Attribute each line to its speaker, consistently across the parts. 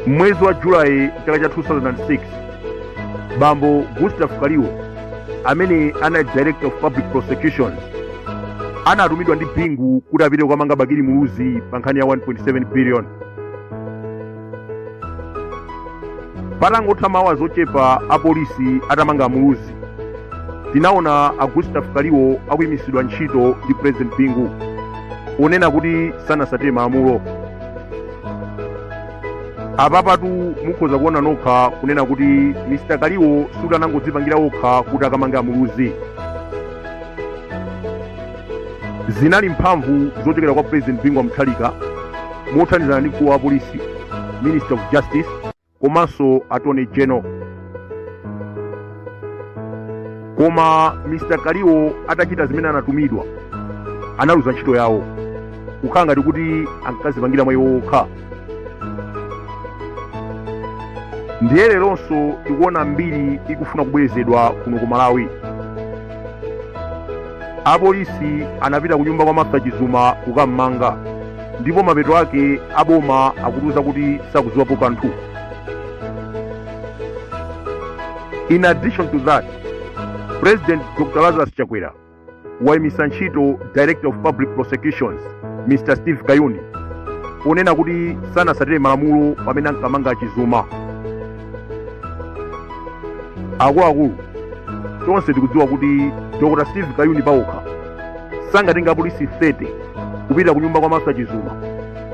Speaker 1: mmwezi wa julayi chaka cha 2006 bambo gustav kaliwo amene anali director of public prosecutions anatumidwa ndi bingu kuti apite kukamanga bakili muluzi pa nkhani ya 1.7 billion patangotha ma hours ochepa apolisi atamanga amuluzi tinaona a gustav kaliwo akuyimisidwa ntchito ndi president bingu ponena kuti sanasatire malamulo apapatu mukhoza kuona nokha kunena kuti mr kaliwo sikuti anangodzipangira okha kuti akamange amuluzi zinali mphamvu zochokera kwa president bingu wa mutharika mothandizana ndi mkulu wa polisi minister of justice komanso attorney general koma mr kaliwo atachita zimene anatumidwa analuza ntchito yawo kukhala ngati kuti ankazipangira mwa iwo okha ndiye leronso tikuona mbiri ikufuna kubwerezedwa kuno ku malawi apolisi anapita kunyumba kwa martha chizuma kukammanga ndipo mapeto ake aboma akutiuza kuti sakuziwapo kanthu in addition to that president dr lazarus chakwera waimisa ntchito director of public prosecutions mr steve kayuni ponena kuti sanasatire malamulo pamene ankamanga chizuma akuluakulu tonse tikudziwa kuti dr steve kayuni paokha sangatenge apolisi 30 kupita ku nyumba kwa martha chizuma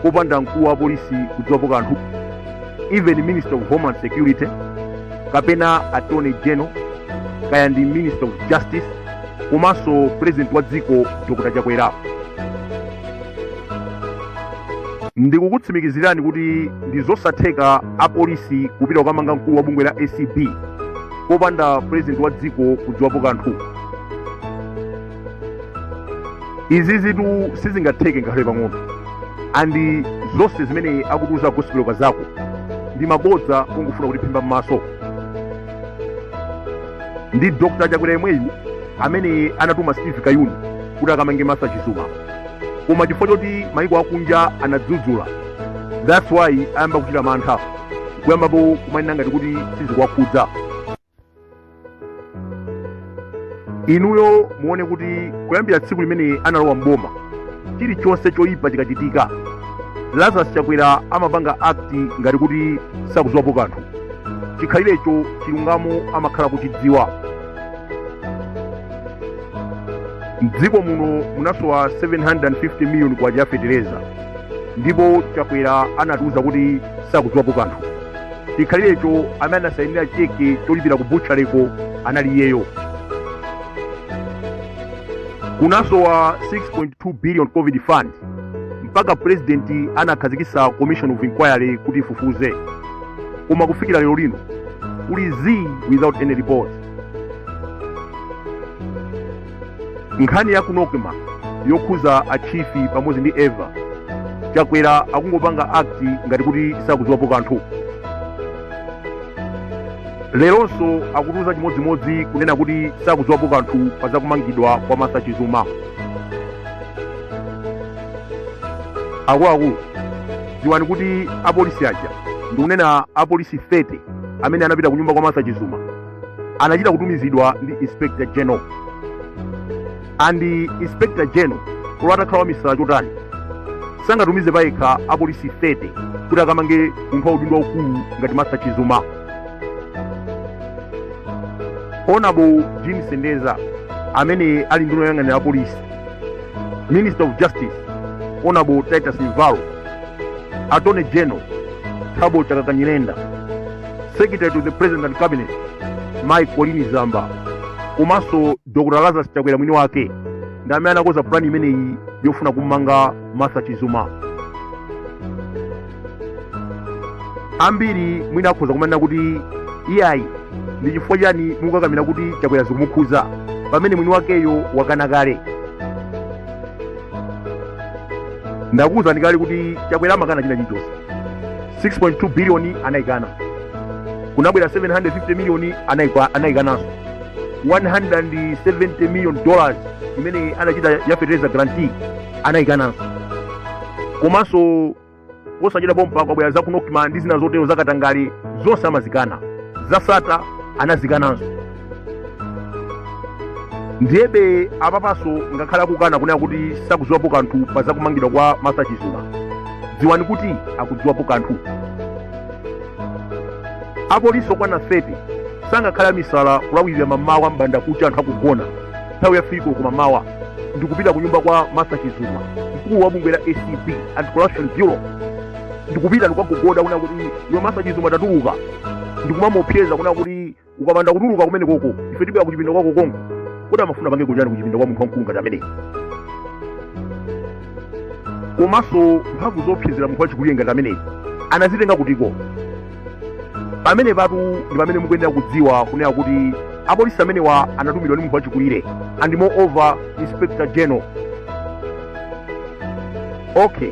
Speaker 1: popanda mkulu wa polisi kudziwapo kanthu even minister of homeland security kapena attorney general kaya ndi minister of justice komanso president wa dziko dr chakwera ndikukutsimikizirani kuti ndi zosatheka apolisi kupita kukamanga mkulu wa bungwe la acb popanda purezidenti wa dziko kudziwapo kanthu izizitu sizingatheke ngakhale pang'ono and zonse zimene akutiuza gospel kazako ndi mabodza kungofuna kutiphimba m'maso ndi dr chakwera yemweyu amene anatuma steve kayuni kuti akamange martha chizuma koma chifukwa choti maiko akunja anadzudzula that's why ayamba kuchita mantha kuyambapo kumanena ngati kuti sizikuwakhudza inuyo muone kuti kuyambira tsiku limene analowa mboma chilichonse choyipa chikachitika lazarus chakwera amapanga act ngati kuti sakudziwapo kanthu chikhalirecho chilungamo amakhala kuchidziwa mdziko muno munasowa 750 miliyoni kwacha ya fetereza ndipo chakwera anatiuza kuti sakudziwapo kanthu chikhalirecho amene anasayinira cheke cholipira ku butchaleko anali iyeyo kunasowa 6.2 billion covid fund mpaka purezidenti anakhazikitsa commission of inquiry kuti ifufuze koma kufikira lero lino kuli zii without any report nkhani ya ku nocma yokhuza a chief pamodzi ndi eva chakwera akungopanga act ngati kuti sakudziwapo kanthu leronso akutiuza chimodzimodzi kunena kuti sakudziwapo kanthu pa zakumangidwa kwa martha chizuma akuluakulu dziwani kuti apolisi aja ndikunena apolisi 30 amene anapita ku nyumba kwa martha chizuma anachita kutumizidwa ndi inspector general and inspector general olo atakhala wamisala chotani sangatumize payekha apolisi 30 kuti akamange munthu wa udindo waukulu ngati martha chizuma honorable jean sendeza amene ali nduna yoyang'anira apolisi minister of justice honorable titus mvalo attorney general thabo chakaka nyirenda secretary to the president and cabinet mai colleen zamba komanso dr lazarus chakwera mwini wake ndi amene anakonza pulani imeneyi yofuna kumanga martha chizuma ambiri mwina akhoza kumanena kuti iyayi ndi chifukwa chani mukukakamira kuti chakwera zikumukhuza pamene mwini wakeyo wakana kale ndakuwuzani kale kuti chakwera amakana china chilichonse 6.2 biliyoni anayikana kunabwera 750 miliyoni anayikananso 170 million dollars imene anachita ya fertilizer guarantee anayikananso komanso posachedwa pompa kwabwera za ku nocma ndi zina zotero zakatangale zonse amazikana za sattar anazikananso ndiyebe apapanso ngakhale akukana kunena kuti sakudziwapo kanthu pa zakumangidwa kwa martha chizuma dziwani kuti akudziwapo kanthu apolisi okwana 30 sangakhale amisala kulawirira mamawa mbanda kucha anthu akugona nthawi ya fiko kumamawa ndikupita ku nyumba kwa martha chizuma mkulu wa bungwe la acb anti corruption bureau ndikupita ndikukagogoda kuna kuti iwe martha chizuma tatuluka ndikumamuopseza kuna kuti ukapanda kutuluka kumene koko ife tibwera kuchipinda kwako konko kodi amafuna akapangeko chani kuchipinda kwa munthu wamkulu ngati ameneyi komanso mphamvu zoopsezera munthu wachikulire ngati ameneyi anazitenga kutiko pamene patu ndi pamene mukuyenera kudziwa kunena kuti apolisi amenewa anatumidwa ndi munthu wachikulire and moreover inspector general okay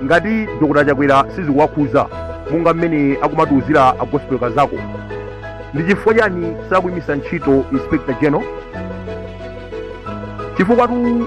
Speaker 1: ngati dr chakwera sizikuwakhuza monga mmene akumatiuzira a gospel kazako ndi chifukwa chani sakuyimisa ntchito inspector general chifukwatu